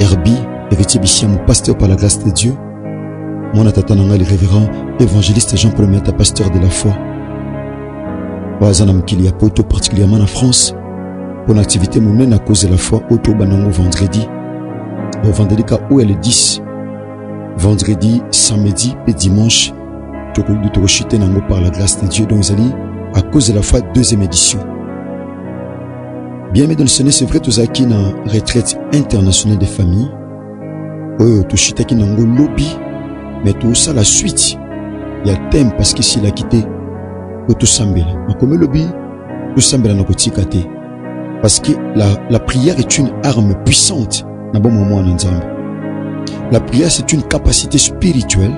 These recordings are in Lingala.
Herbie Heritier Bishiamu, pasteur par la grâce de Dieu. Mwana tata na ngai le révérend évangéliste Jean-Paul Miata, pasteur de la foi. Oyo aza na mokili ya poto particulièrement na France mpo na activité monene à cause de la foi oyo tobanda yango vendredi bovandeli ka oyo ya le 10 vendredi samedi mpe dimanche tokoki tokoshite na yango par la grâce de Dieu donc ezali à cause de la foi deuxième édition Bien aimé dans le Seigneur, c'est vrai tozalaki na retraite internationale des familles oyo toshitaki nango lobi me tosala suite ya teme parce que esilaki te po tosambela makomi elobi tosambela na kotika te parce que la, la prière est une arme puissante na bomoi mwana nzambe la prière c'est une capacité spirituelle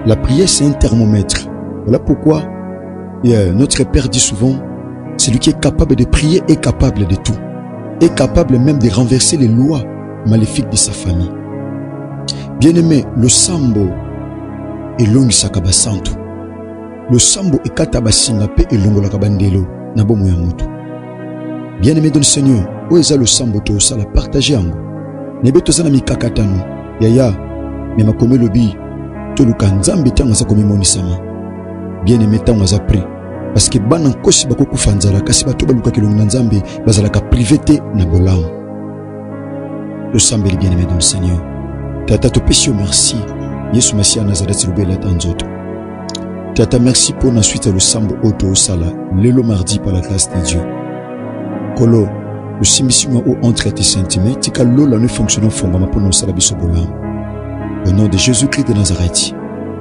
la prière c'est un thermomètre voilà pourquoi Yeah, notre Père dit souvent, celui qui est capable de prier est capable de tout, est capable même de renverser les lois maléfiques de sa famille. Bien-aimé, le sambo et l'ongisaka basantu. Le sambo et kata basinga pe et longola kabandelo na bomo ya mutu. Bien-aimé de le Seigneur, où est le sambo to sala partager yango. Nebe to sana mikakatano. Yaya, mais makomelo bi to luka nzambe tango sa komimonisa ma. bien aime ntango aza prix parce que bana nkosi bakokufa nzala kasi bato balukaka elongi na nzambe bazalaka prive te na bolamu tosambeli bien aime dans le seigneur tata topesi yo merci yesu masiya nazareti lobela ata nzoto tata merci mpo na suite ya losambo oyo toosala lelo mardi par la classe de dieu kolo osimbisi mwa o entre ya tisentime tika lola no efonctionne ofongama mpo na osala biso bolamu au nom de jésus christ de nazareti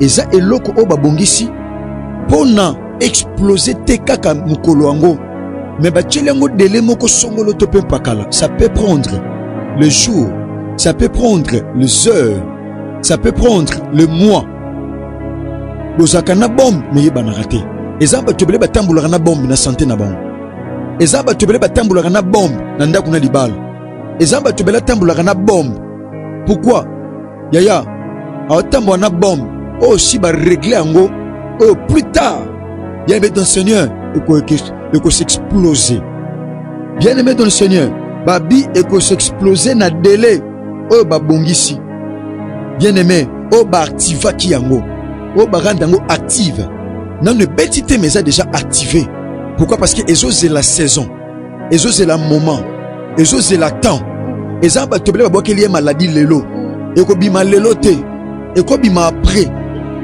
eza eloko oyo babongisi mpo na explose te kaka mokolo yango me batyeli yango dele moko songolo to mpe mpakala ça peut prendre le jour ça peut prendre les heures ça peut prendre le mois bozalaka na bombe meyebanaka te eza bato ebele batambolaka na bombe na sante na bango eza bato ebele batambolaka na bombe na ndako na libala eza bato ebele atambolaka na bombe pourkui yaya aotambwa na bombe oyo si baregle yango oyo plus tard bien aimé ton seigneur ekosexplose bien aimé ton seigneur babi ekosexplose na dele oyo babongisi bien aimé oyo baactivaki yango oyo barande yango active nano ebeti te mais eza déjà active pourquoi parce que ezozela saison ezozela moment ezozela temps eza bato ebele babwakeli ye maladi lelo ekobima lelo te ekobima apres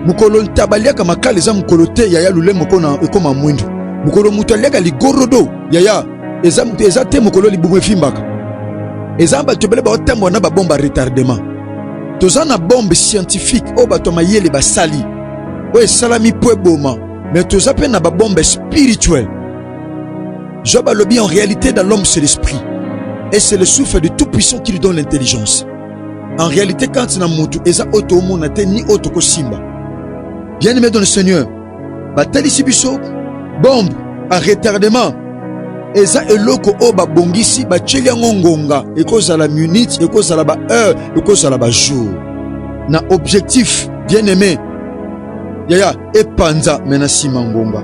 mokolo ntaba aliaka makala eza mokolo te yaya lule moko na ekoma mwindu mokolo moto aliaka ligorodo yaya eza, eza te mokolo libumu efimbaka eza bato ebele baotambola na babomba retardement toza na bombe scientifique oyo bato ya mayele basali oyo esalami mpo eboma me toza mpe na babombe spirituel Job alobi en réalité dans l'homme c'est l'esprit et c'est le souffle du tout puissant qui lui donne l'intelligence en réalité kati na motu eza oyo toomona te ni oyo tokosimba bien aimé dans le seigneur batalisi biso bombe a retardement eza eloko oyo babongisi batyeli yango ngonga ekozala minute ekozala ba heure ekozala ba jour na objectif bien aimé yaya epanza me na nsima ngonga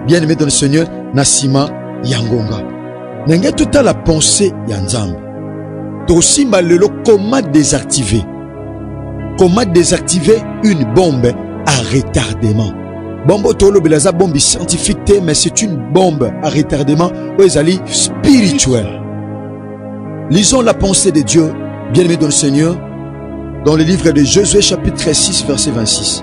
bien aimé dans le seigneur na nsima ya ngonga na ngai totala pensée ya nzambe tokosimba lelo comment désactiver comment désactiver une bombe à retardement bombe oyo tolobela eza bombe scientifique te mais c'est une bombe à retardement oyo ezali spirituel lisons la pensée de dieu bien aimé dans le seigneur dans le livre de Josué chapitre 6 verset 26.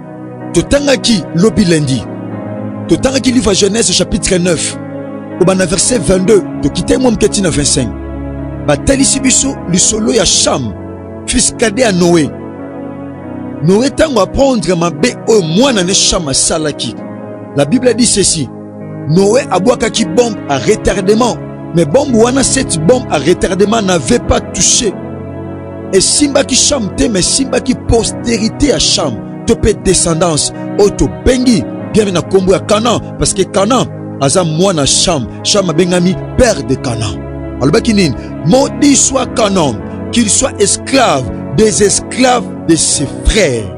totangaki lobi lundi totangaki livre ya genèse chapitre 9 kobanda verset 22 tokitaki mwa moke ntina 25 batalisi biso lisolo ya sham fils kade ya noe noe ntango aprendre mabe oyo mwana ne sham asalaki la bible dit ceci Noé abwakaki bombe à retardement mais bombe wana cette bombe à retardement n'avait pas touché esimbaki sham te mais esimbaki postérité ya sham to mpe descendance oyo tobengi biami na nkombo ya kanan parce que kanan aza mwana sham sham abengami père de kanan alobaki nini maudit soit kanan qu'il soit esclave des esclaves de ses frères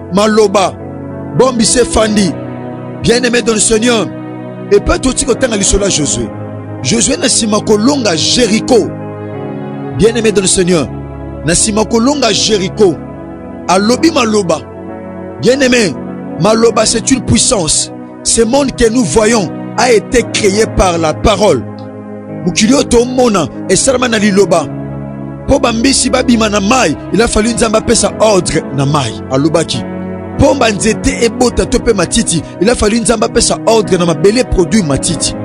maloba bombi se fandi bien aimé dans le seigneur epai toti kotanga lisolo ya josue josue na nsima kolonga jeriko bien aimé dans le seigneur na nsima kolonga jeriko alobi maloba bien aimé maloba c'est une puissance Ce monde que nous voyons a été créé par la parole. mokili oyo tomona esalama na liloba mpo bambisi babima na mai il a fallu nzambe apesa ordre na mai alobaki mpo banzete ebota to mpe matiti il a fallu nzambe apesa ordre na mabele produit matiti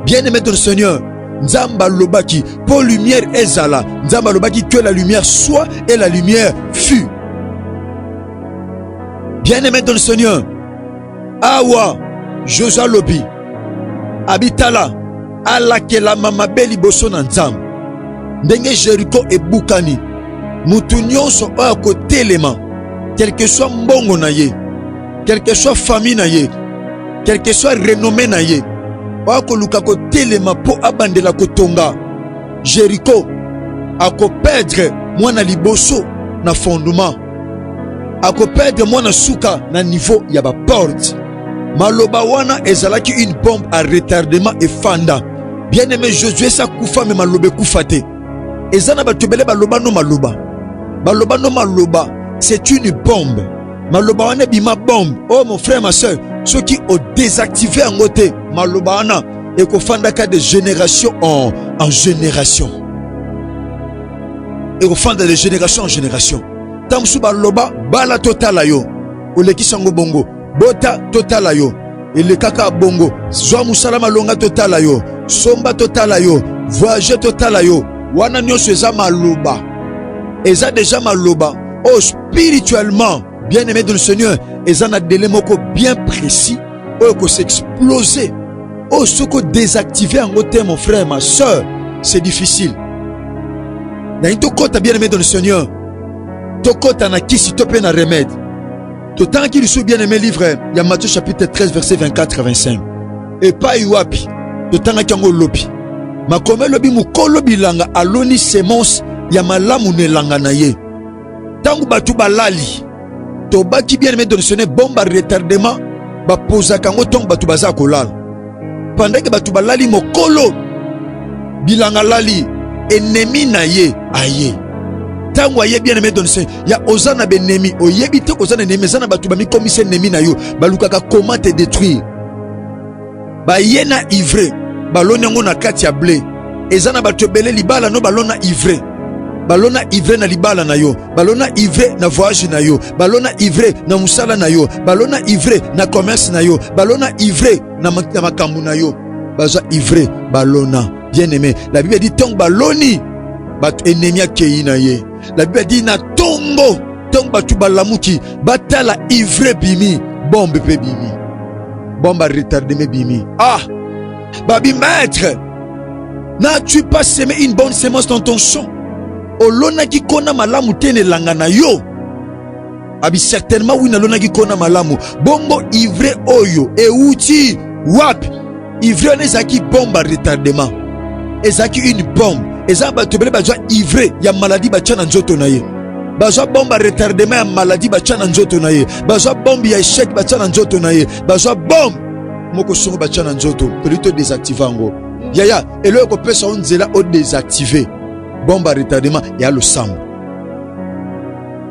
bien aimé de seigneur nzambe alobaki mpo lumière ezala nzambe alobaki que la lumière soit et la lumière fut bien aimé de seigneur awa josue alobi abitala alakelama mabe liboso na nzambe ndenge jeriko ebukani moto nyonso oyo akotelema quelque soit mbongo na ye quelque soit famille na ye quelque soit renome na ye oyo akoluka kotelema mpo abandela kotonga jeriko akoperdre mwana liboso na fondement akoperdre mwana suka na niveau ya baporte. Maloba wana ezalaki une bombe à retardement efanda. Bien aimé Josué sa kufa me maloba ekufa te. Eza na bato ebele baloba no maloba. Baloba no maloba, c'est une bombe. Maloba wana ebima bombe. Oh mon frère, ma soeur, ceux qui ont désactivé en côté, maloba wana ekofandaka de génération en, en génération. ekofanda de génération en génération ntango mosusu baloba bala totala yo olekisa yango bongo bota totala yo elekaka bongo zwa mosala malonga totala yo somba totala yo voyage totala yo wana nyonso eza maloba eza deja maloba oyo oh, spirituellement bien aimé de le seigneur eza na dele moko bien précis oyo ko s'exploser oyo oh, soki odésactive yango te mon frère ma soeur c'est difficile nalingi tokɔta bien aimé dans le seigneur tokɔta na kisi to mpe na remède totangaki lisusu bien aimé livre ya matthieu chapitre 13 verset 24 25 epai wapi totangaki yango lobi makomi elobi mokolo bilanga aloni semence ya malamu na elanga na ye ntango bato balali tobaki bien aimé donatione bomba retardement bapozaka yango ntango bato baza kolala pendant ke bato balali mokolo bilanga lali enemi na ye aye ntango aye bien aimé donatione ya oza na benemi oyebi te koza na enemi eza na bato bamikomisa enemi na yo balukaka koma te détruire baye na ivre baloni yango na kati ya ble eza na bato ebele libala no balona ivre balona ivre na libala na yo balona ivre na voyage na yo balona ivre na mosala na yo balona ivre na commerce na yo balona ivre na makambo na yo baza ivre balona bien aimé la bible dit ntango baloni bato enemi akei na ye La Bible dit na tongo tongo batu balamuki batala ivre bimi bombe pe bimi bombe retardé me bimi ah babi maître n'as-tu pas semé une bonne semence dans ton champ olonaki kona malamu te na elanga na yo Abi certainement oui nalonaki kona malamu. Bongo ivre oyo euti wapi? Ivre wana ezalaki bombe ya retardement, ezalaki une bombe. Eza bato ebele bazwa ivre ya maladie batya na nzoto na ye bazwa bombe ya retardement ya maladie batya na nzoto na ye, bazwa bombe ya echec batya na nzoto na ye, bazwa bombe moko songo batya na nzoto toli to desactive yango yaya eloko ekopesa yo nzela o desactive bombe ya retardement ya losambo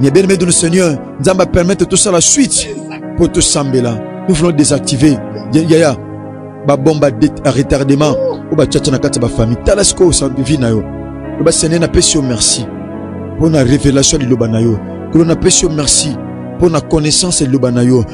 Mes bien-aimés dans le Seigneur, nous allons permettre tout ça la suite pour tout sambela. Nous voulons désactiver. Yaya, ba bombe à retardement ou ba tchatcha na kati ba famille. Talasco sans vie na yo. Le ba Seigneur na pesi merci pour la révélation de loba na yo. Que l'on a pesi merci pour la connaissance de loba na yo.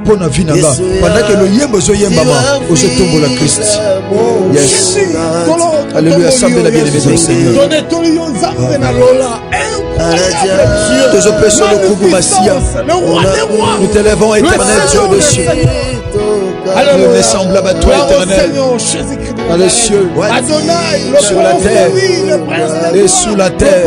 mpo na vi na nga pendant ke loyembo ezoyembama ozotombola krist yes alleluya sambela bien aimé dans seigneur tozopesa lokumu masiya nous t'élevons éternel dieu de cieux nous ne semblable à toi éternel dans les cieux sur la terre et sous la terre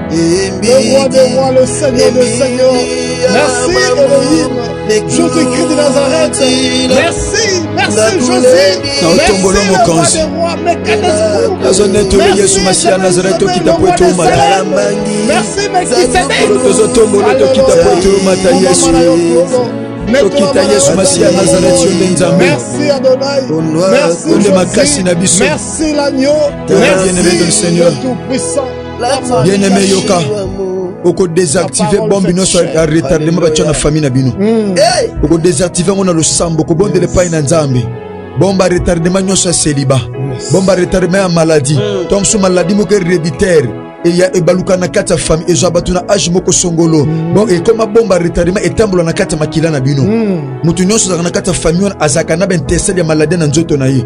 Le roi des rois, le Seigneur des seigneurs. Merci Elohim, Jésus-Christ de Nazareth. Merci, merci Jésus. naotombolo mokonzi nazonetoli yesu masiya nazareth tokita po ete omata tozotombolo tokita po ete omata yesu tokita yesu masiya ya nazareti yo nde nzambe onde makasi na biso bien aimé de le seigneur bien aime yoka okodesactive bombe nyonso ya retardement batya na famille na bino hmm. okodesactive yango na losambo kobondela epai na nzambe bomba retardement nyonso ya seliba bomba retardement ya maladie hmm. to mosusu maladie moko hereditaire eya ebaluka na kati ya famille ezwa bato na age moko songolo hmm. bon ekoma bomba retardement etambola na kati ya makila na bino moto nyonso azalaka na kati ya famille wana azalaka na baintercelle ya maladie na nzoto na ye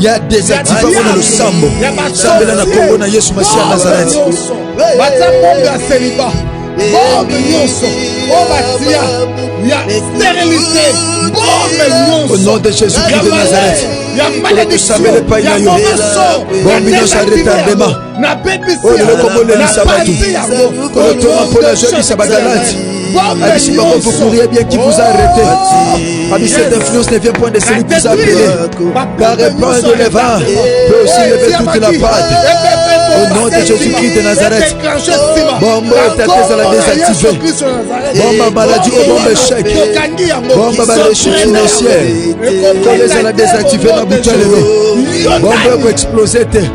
ya desactiva mpo na losambo sambela na nkombo na yesu masiya ya nazareti batya bombe ya seliba bombe nyonso oyo batya ya sterilité bombe nyonso au nom de jésus christ de nazareth ya maledictio ya bombe nyonso ya retardement oyo lelo komonelisa bato kotonga mpo na zokisa bagalati abisi bango vous courriez bien qui vous a arrêté ami cette influence ne vient point de celui qui vous a appelé par répandre le vent peut aussi lever toute la pâte au nom de Jésus-Christ de Nazareth bombo etata ezala désactive bomba maladie o bomba échec bomba baléchute financière tolo ezala désactive na butu ya lelo bombo ekoexplose te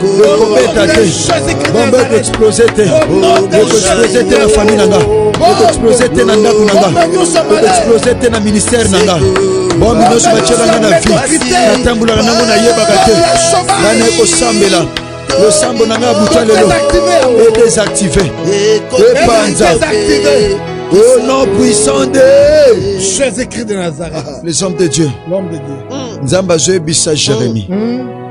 ekobeta te bombe ekoexplose te ekoexplose te na famille na nga ekoexplose te na ndako na nga ekoexplose te na ministère na nga bombe nyonso batyelanga na vie natambolaka nango nayebaka te nga naye kosambela losambo na nga ya buta lelo edesactive epanza au nom puissant de Jésus-Christ de Nazareth les hommes de Dieu l'homme de Dieu nzambe azoyebisa jérémie mm.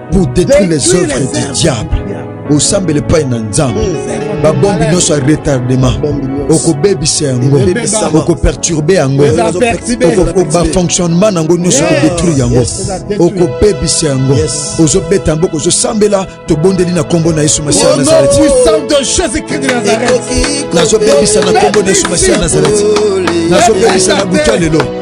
pour détruire les œuvres du diable osambela epai na nzambe hmm. babombi nyonso ya retardement okobebisa yango okoperturbe yango bafonctionnement na yango nyonso okodétruire yango okobebisa yango ozobeta mboka ozosambela tobondeli na nkombo na yesu masiya nazareti nazobebisa na nkombo na yesu masiya nazareti nazobebisa na butu ya lelo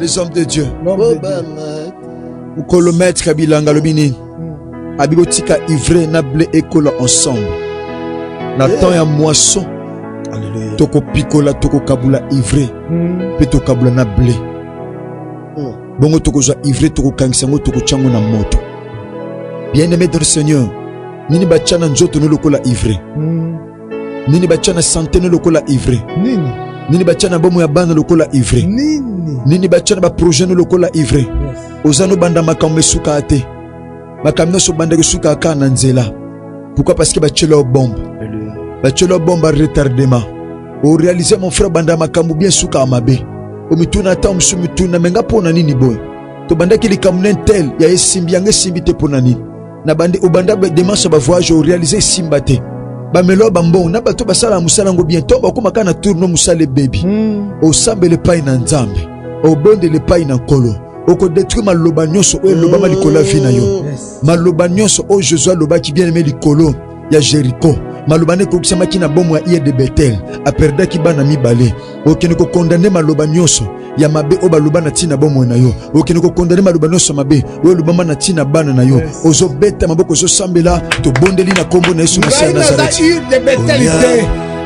les hommes de dieu mokolo maître ya bilanga alobi nini hmm. abi botika ivre na ble ekola ensemble na eh. temps ya moisson tokopikola tokokabula ivre hmm. mpe tokabula na ble hmm. bongo tokozwa ivre tokokangisa yango tokotya yango na moto bien aimé dans le seigneur nini batya na nzoto no lokola ivre Nini batya na sante no lokola ivre? Nini? Nini batya na bomo ya bana lokola ivre? Nini? Nini batya na baprojet no lokola ivre? Yes. Oza no banda makambo esukaa te. Makambo nyonso obandaki esukaa kaka na nzela. Pourquoi? Parce que batyela yo bombe. Batyela yo bombe ya retardement. Orealize mon frère banda makambo bien esukaa mabe. Omituna ata mosusu mituna me nga mpo na nini boye? Tobandaki likambo na intel ya esimbi yango esimbi te mpo na nini? na bande obanda demarche ya bavoyage orealize esimba te bamelo ba mbongo na bato basalaka mosala yango bien to bakóma kaka na tourno mosala ebebi hmm. osambela epai na nzambe obondela epai na nkolo okodetruire maloba nyonso oyo elobama likolo ya vi na yo maloba nyonso oyo josue alobaki bien aime likolo ya Jericho maloba nekokisamaki na bomo ya iye de Betel aperdaki bana mibale. Okende kokondane maloba nyonso ya mabe oyo baloba na ntina bomoi na yo, okende kokondane maloba nyonso mabe oyo elobama na ntina bana na yo. Ozobeta maboko, ozosambela, tobondeli na nkombo na Yesu Masiya Nazareti.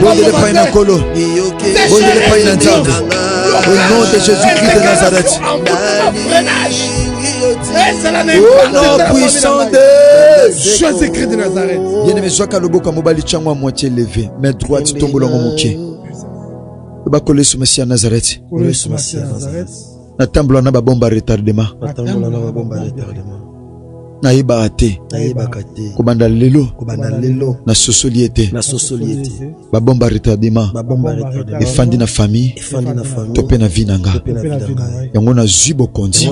bondele epai na nkolo bondele epai na nzambe au nom de jésus christ de nazareth au nom puissant de jésus christ de nazareth bien-aimé zwaka loboko ya mobali tyango ya moitié leve mais droite tombola yango moke loba kolo yesu masiya nazareth natambola na babomba retardement natambola na babomba retardement nayebaka te nayebaka te kobanda lelo kobanda lelo nasosoli ete nasosoli ete babomba retardement babomba retardement efandi na famille efandi na famille to pe na vie na nga to pe na vie na nga yango nazwi bokonzi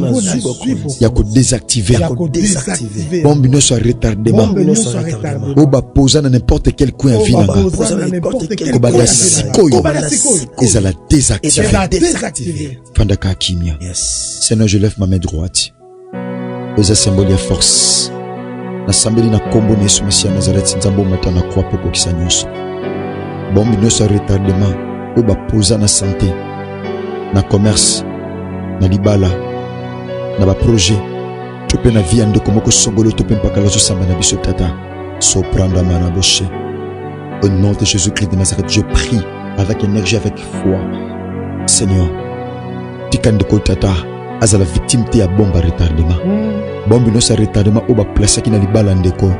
ya ko désactiver ya ko désactiver bombe nyonso ya retardement bombe nyonso ya retardement oyo bapoza na n'importe quel coin ya vie na nga kobanda sikoyo ezala désactiver fandaka kimia yes. seigneur je lève ma main droite eza symbole ya force nasambeli na nkombo na yesu masiya nazareti nzambe omata na kwa mpo okokisa nyonso bombi nyonso ya retardement oyo bapoza na sante na commerce na libala na baprojet to mpe na vi ya ndeko moko songolo to mpe mpakala azosamba na biso tata sopranda mana boshe au nom de jésus christ de nazareth je prie avec énergie avec foi seigneur tika ndeko tata azala victime te ya bombe ya retardement hmm. bombe nyonso ya retardement oyo baplasaki na libala ndeko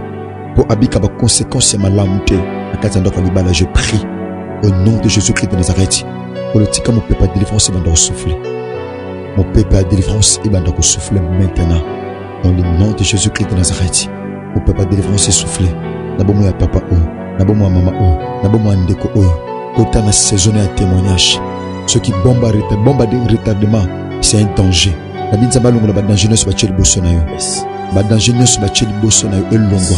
mpo abika baconséquence ya malamu te na kati ya ndako ya libala je prie au nom de jésus christ de nazareth polo tika mopepe ya délivrance ebanda kosouffle mopepe ya délivrance ebanda kosouffle maintenant dans le nom de jésus christ de nazareth o papa délivrance essouffle na bomoi ya papa oyo na bomoi ya mama oyo na bomoi ya ndeko oyo kota na saisonne ya témoignage soki bomba bomba de retardement c'est un danger nabi nzambe alongola badanger nyonso batye liboso na yo badanger nyonso batye liboso na yo elongwa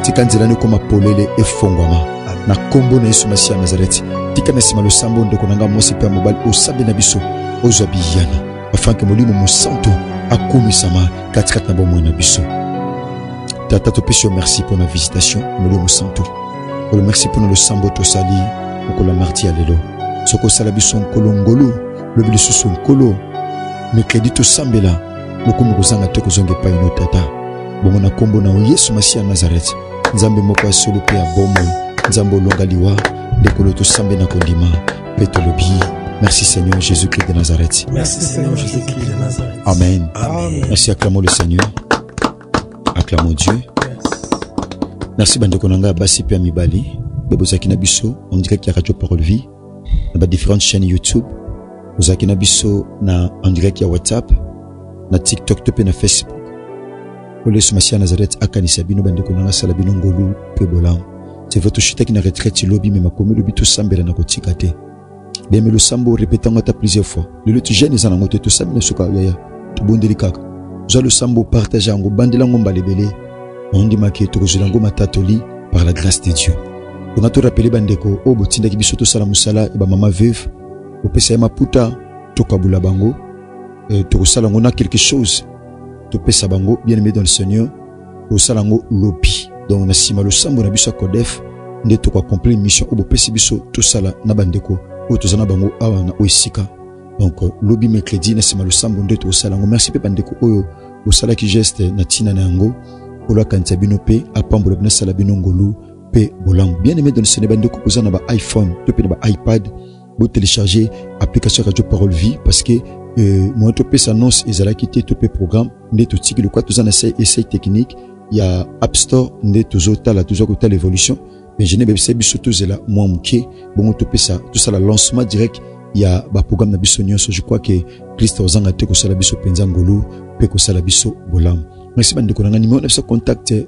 tika nzela no ekoma polele efongwama na nkombo na yesu masiya ya nazareti tika na nsima losambo ndeko na ngai mwasi mpe ya mobali osabi na biso ozwa biyano afin que Molimo Mosanto akomisama katikati na bomoi na biso. Tata, topesi yo merci mpo na visitation Molimo Mosanto. Nkolo, merci mpo na losambo tosali mokolo ya marti ya lelo. Soki osala biso nkolo ngolu, lobi lisusu nkolo, mikredi tosambela lokumu kozanga te kozonga epai no Tata. Bongo na nkombo na Yesu Masiya ya Nazareti, Nzambe moko ya solo mpe ya bomoi, Nzambe olonga liwa, ndekolo tosambe na kondima. Mpe tolobi Merci Seigneur Jésus-Christ de Nazareth. Merci Seigneur Jésus-Christ de Nazareth. Amen. Amen. Merci, acclamons le Seigneur. Acclamons Dieu. Merci bandeko na ngai basi mpe ya mibali mpe bozalaki na biso ondiraki ya radio parole vie na badifférentes chaîne youtube bozalaki na biso na ondiraki ya whatsapp na tiktok to mpe na facebook oyo yesu masiya nazareth akanisa bino bandeko na ngai asala bino ngolu mpe bolamu c'est vrai toshitaki na retraite lobi me makomi lobi tosambela na kotika te bemelo sambo orepete yango ata plusieurs fois lelo ti jeune eza nango te tosambi na suka yaya tobondeli kaka zwa losambo partage yango bandela yango mbala ebele ondimaki tokozwela yango matatoli par la grâce de dieu tonga torapele bandeko oyo botindaki biso tosala mosala ya bamama veuve kopesa ye maputa tokabula bango euh, tokosala yango na quelque chose topesa bango bien aimé dans le seigneur tosala yango lobi donc na nsima losambo na biso ya codef nde tokoaccomplir mission oyo bopesi biso tosala na bandeko oyo toza na bango awa na oyo esika donc euh, lobi mercredi na nsima losambo nde tokosala yango merci mpe bandeko oyo bosalaki geste na ntina na yango nkolo akanisa bino mpe apambola bino asala bino ngolu mpe bolamu bien aimé donisene bandeko boza na ba iphone to mpe na ba ipad Vous téléchargez application Radio Parole Vie parce que euh, moi to pesa annonce ezalaki te to pe programme nde totiki lokola toza na essai technique ya app store nde tozotala toza kotala évolution mais je nebebisa biso tozela mwa moke bongo topesa tosala lancement direct ya baprogramme na biso nyonso je crois que krista ozanga te kosala biso mpenza ngolu mpe kosala biso bolamu merci bandeko na ngai nimero na biso contact